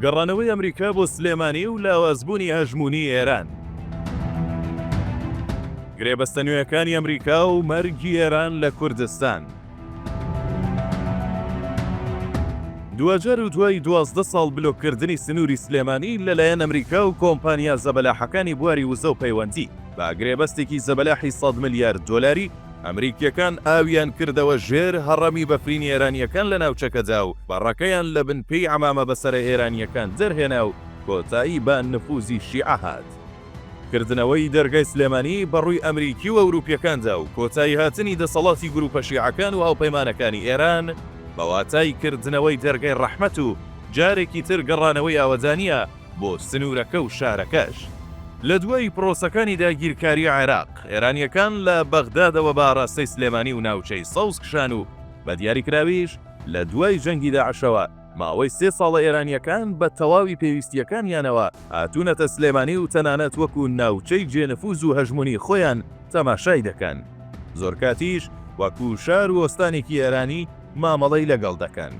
گەڕانەوەی ئەمریکا بۆ سلێمانی و لاوازبوونی هەژموونی ئێران. گرێبەستە نوێیەکانی ئەمریکا و مەرگی ئێران لە کوردستان. دواجار و دوای دوازدە ساڵ بلۆککردنی سنووری سلێمانی لەلایەن ئەمریکا و کۆمپانیا زەبەلاحەکانی بواری وزە و پەیوەندی بە گرێبەستێکی زەبەلاحی سەد ملیار دۆلاری، ئەمریکییەکان ئاویان کردەوە ژێر هەڕەمی بەفرینی ئێرانییەکان لە ناوچەکەدا و بەڕەکەیان لە بن پێی عەمامە بەسەرە ئێرانییەکان دەرهێنا و کۆتایی بە نفوزی شیعە هات. کردنەوەی دەرگای سلێمانی بە ڕووی ئەمریکی و ئەوروپییەکاندا و کۆتایی هاتنی دەسەڵاتی گرووپە شیعەکان و هاوپەیمانەکانی ئێران بە واتای کردنەوەی دەرگای ڕەحمەت و جارێکی تر گەڕانەوەی ئاوەدانییە بۆ سنوورەکە و شارەکەش. لە دوای پرۆسەکانی داگیرکاری عێراق، ئێرانییەکان لە بەغدادەوە بە ئاراستەی سلێمانی و ناوچەی سەوز کشان و بە دیاریکراویش لە دوای جەنگی داعشەوە، ماوەی سێ ساڵە ئێرانییەکان بە تەواوی پێویستییەکانیانەوە هاتوونەتە سلێمانی و تەنانەت وەکو ناوچەی جێ نفوز و هەژموونی خۆیان تەماشای دەکەن، زۆرکاتیش وەکو شار و ئۆستانێکی ئێرانی مامەڵەی لەگەڵ دەکەن.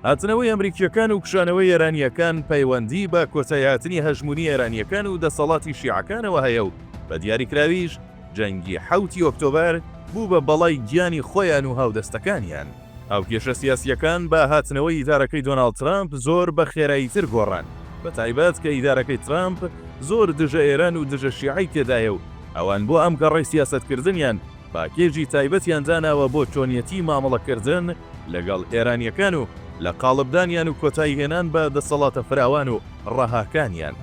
هاتنەوەی ئەمریکییەکان و کشانەوەی ئێرانییەکان پەیوەندیی بە کۆتایهاتنی هەژموونی ئێرانییەکان و دەسەڵاتی شیعەکانەوە هەیە و بە دیاریکراویش جەنگی حەوتی ئۆکتۆبەر بوو بە بەڵای گیانی خۆیان و هاودەستەکانیان. هاوکێشە سیاسییەکان بە هاتنەوەی ئیدارەکەی دۆناڵد ترامپ زۆر بە خێراییتر گۆڕان، بەتایبەت کە ئیدارەکەی ترامپ زۆر دژە ئێران و دژە شیعەی تێدایە و ئەوان بۆ ئەم گەڕەی سیاسەتکردنیان، پاکێجی تایبەتیان داناوە بۆ چۆنیەتی مامەڵەکردن لەگەڵ ئێرانییەکان و لە قاڵبدانیان و کۆتایی هێنان بە دەسەڵاتە فراوان و ڕەهاکانیان.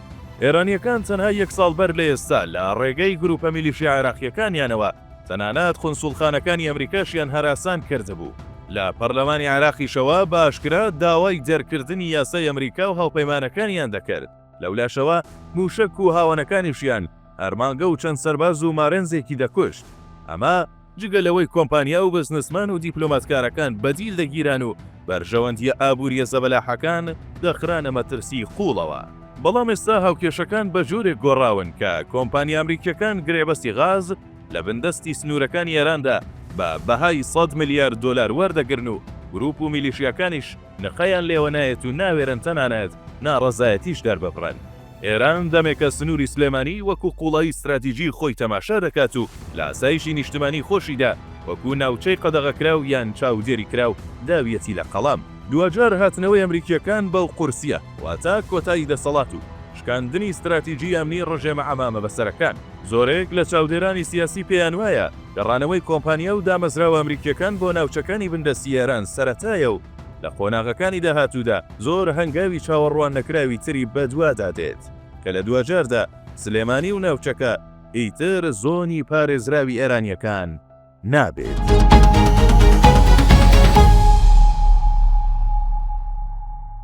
ئێرانییەکان تەنها یەک ساڵ بەر لە ئێستا لە ڕێگەی گروپە میلیشیا عێراقییەکانیانەوە تەنانەت قونسوڵخانەکانی ئەمریکاشیان هەراسان کردبوو. لە پەرلەمانی عێراقیشەوە بە ئاشکرا داوای دەرکردنی یاسای ئەمریکا و هاوپەیمانەکانیان دەکرد. لەولاشەوە مووشەک و هاوەنەکانیشیان ئەرمانگە و چەند سەرباز و مارێنزێکی دەکوشت، ئەمە جگە لەوەی کۆمپانیا و بزنسمان و دیپلۆماتکارەکان بەدیل دەگیران و بەرژەوەندییە ئابوورییە زەبەلاحەکان دەخرانە مەترسیی قووڵەوە. بەڵام ئێستا هاوکێشەکان بە جۆرێک گۆڕاون کە کۆمپانیا ئەمریکییەکان گرێبەستی غاز لە بندەستی سنوورەکانی ئێراندا بە بەهای سەد ملیار دۆلار وەردەگرن و گرووپ و میلیشیاکانیش نقەیان لێوە نایەت و ناوێرن تەنانەت ناڕەزایەتیش دەرببڕن. ئێران دەمێکە سنووری سلێمانی وەکوو قووڵایی ستراتیجیی خۆی تەماشا دەکات و لە ئاسایشی نیشتمانیی خۆشیدا وەکوو ناوچەی قەدەغەکراو یان چاودێریکراو داویەتی لە قەڵەم. دواجار هاتنەوەی ئەمریکییەکان بەو قورسییە واتە کۆتایی دەسەڵات و شکاندنی ستراتیجیی ئەمنیی ڕژێمە عەمامەبەسەرەکان. زۆرێک لە چاودێرانی سیاسی پێیان وایە گەڕانەوەی کۆمپانیا و دامەزراوە ئەمریکییەکان بۆ ناوچەکانی بندەستی ئێران سەرەتایە و لە قۆناغەکانی داهاتوودا زۆر هەنگاوی چاوەڕوان نەکراوی تری بەدوادا دێت کە لە دواجاردا سلێمانی و ناوچەکە ئیتر زۆنی پارێزراوی ئێرانییەکان نابێت.